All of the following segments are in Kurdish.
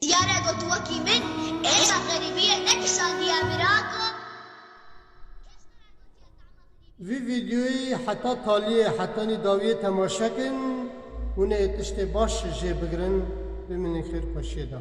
Diyare ku tu wekî min hêja xerîbiyê nekişandiye mirako. Vî vîdyoyî heta taliyê hetanî dawiyê temaşe kin, hûnê tiştê baş jê bigirin, bimînin xêr xweşiyê de.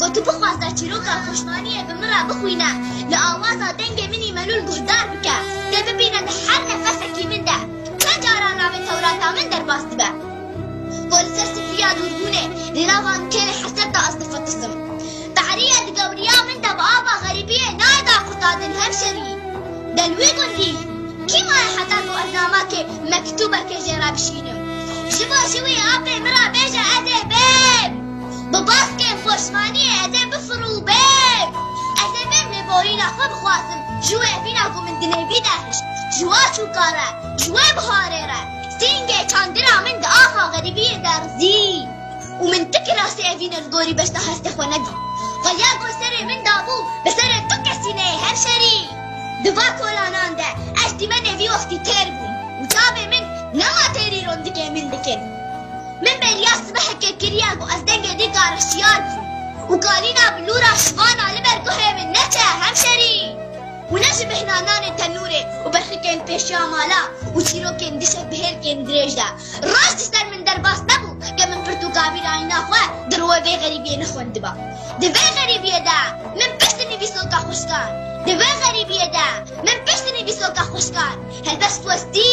Got tu bixwaze çîroka koşmaniyê bi min re bixwîne, li awaza dengê min î melûl guhdar bike, tê bibîne di her nefesekî min de çend caran navê Tewrata min derbas dibe. Got li ser sifriya dûrbûnê li nava nûkêrê heset de ez difitisim. Behrîye di gewriya min de bi ava xerîbiyê nayê dar qurtardin hemşerî. Gel wî gund hî? Kî maye heta ku ez namakê, mektûbekê jê re bişînim? Ji bo ji wî apê min re bêje ez ê bêm! Bi baskên xweşmaniyê ez ê bifirûbim. Ez ê vê lêborîna xwe bixwazim ji wê vîna ku min dinêvî de hişt. Ji wa çûka re, ji wê biharê re sîngê çandina min di axa xerîbiyê de rizî û min tu kirasê evînê li gorî beşda hestê xwe nedî. Xuya ku serê min dabû bi serê tu kesîneyê hemşerî. Di va kolanan de ez dîmenê vî wextî têr bûm û çavê min nema têrî rondikê min dikin. Min bêriya sibeheke kiriye ku ez dengê din kareşiyar bûm û kalîna bilûra şivana li ber guhê min neçe hemşerî û ne ji bêhna nanê tenûrê û berxikên pêşiya mala û çîrokên dişek bi hêlkên dirêj de. Roj ji ser min derbas nebû ke min pirt û kavîr ayîna xwe di rûê vê xerîbiyê nexwendiba. Di vê xerîbiyê de min pişt nivîsoka xwişkan, di vê xerîbiyê de min pişt nivîsoka xwişkan helbest westî.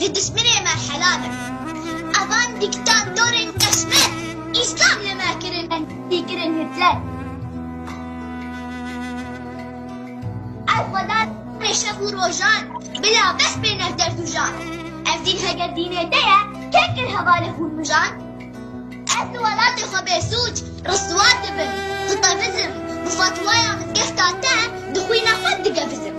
Ji dijminê me helal in. Evan dîktatorên qeşmer îslam li me kirin em dî kirin Hitler. Ev xweda rê şev û rojan bila bes bê nev derd û jan. Ev dîn heger dînê te ye kê kir hevalê xûn mijan. Ez li welatê xwe bêsûc, riswa dibim, dixebizim, bi fetwaya mizgefta te di xwîna xwe digevizim.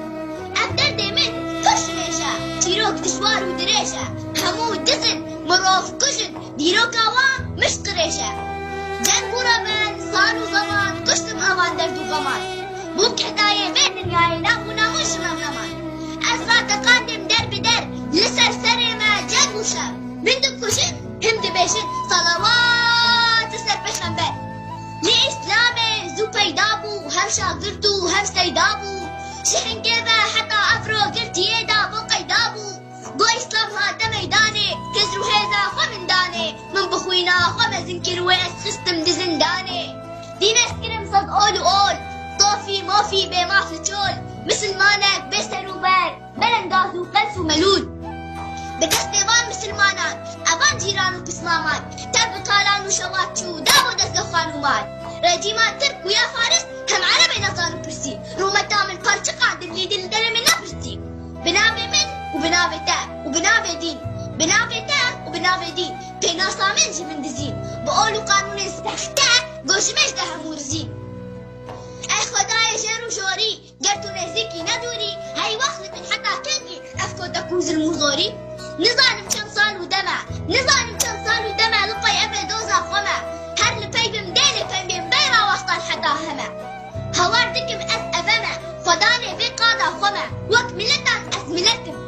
Ev derdê min pir ji hêj e, çîrok dijwar û dirêj e, hemû diz in, mirov kuj in, dîroka wan mişt qirêj e. Ceng û remen, sal û zeman kuştim evan derd û xeman. Bûm kedayê vê dinyayê nav û namus ji me heman. Ez rateqandim der bi der, li ser serê me ceng û şer. Min dikujin, Him dibêjin salawat li ser pêxember. Lê îslamê zû peyda bû û hevşa girt û hev seyda bû. Ji hingê ve heta ev rogirtiyê de bo qeyda bû. Go îslam hate meydanê, hêz û hêza xwe min danê. Min bi xwîna xwe mezin kir wê ez xistim di zindanê. Dîn ez kirim saz ol û ol, tofî mofî bê maf li çol. Misilmanek bê ser û ber. Meren gaz û qels û melûl. Bi destê van misilmanan e van cîran û pismaman tev bi talan û şevat çû û da bo dezgeh xanûman. Recîman tirk bû ya faris hem erebê nezan û pirsî, Rûmeta min parçe qand in lê dil derê min nepirsî. Bi navê min û bi navê te û bi navê dîn, bi navê te û bi navê dîn pênasa min ji min dizîn, bi ol û qanûnên sexte got ji min ji te hemû rizîn. Ey xwedayê jêr û jorî. Ger tu nêzîk î ne dûr î, hey wext li min heta kengî ev kota ku zilm û zorî? Nizanim çend sal û dem e, nizanim çend sal û dem e li qey ev ê doza xwe me. Her li pey bim dê lê pembiyên beyra wextan heta hem e. Hawar dikim ez ev em e, xwedanê vê qada xwe me. Wek miletan ez milet im.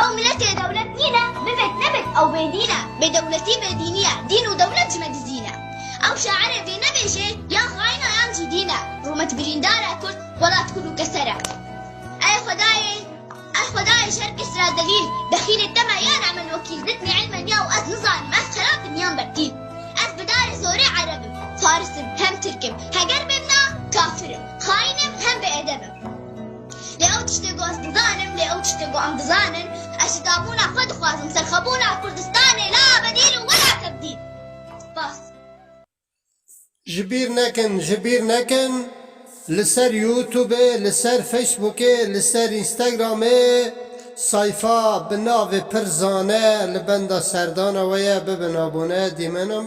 Ew milet ê dewlet nîn e, bibêt nebêt ew bêdîn e. Bêdewletî bêdînî ye, dîn û dewlet ji me dizî ne. Ew şairê vê nebêjê yan xaîn e yan jî dîn e. Rûmet birîndar e kurd welat kur û keser e. Ey xwedayê, ey xwedayê ji her kes re zelîl, bexîlê te me ya ne min wekîl, ditnî ilmen ya û ez nizanim ez xerab im yan bertîl. Ez bi darê zorê ereb im, faris im, hem tirk im. Heger bêbna kafir im, xaîn im hem bêedeb im. Lê ew tiştê ku ez dizanim, lê ew tiştê ku em dizanin, ez şikabûna xwe dixwazim, serxwebûna Kurdistanê la abedî li we la kebdî. Spas. Ji bîr nekin, ji bîr nekin, li ser Youtubê, li ser Facebookê, li ser Instagramê sayfa bi navê Pir Zane li benda serdana we ye, bibin abone, dîmenan.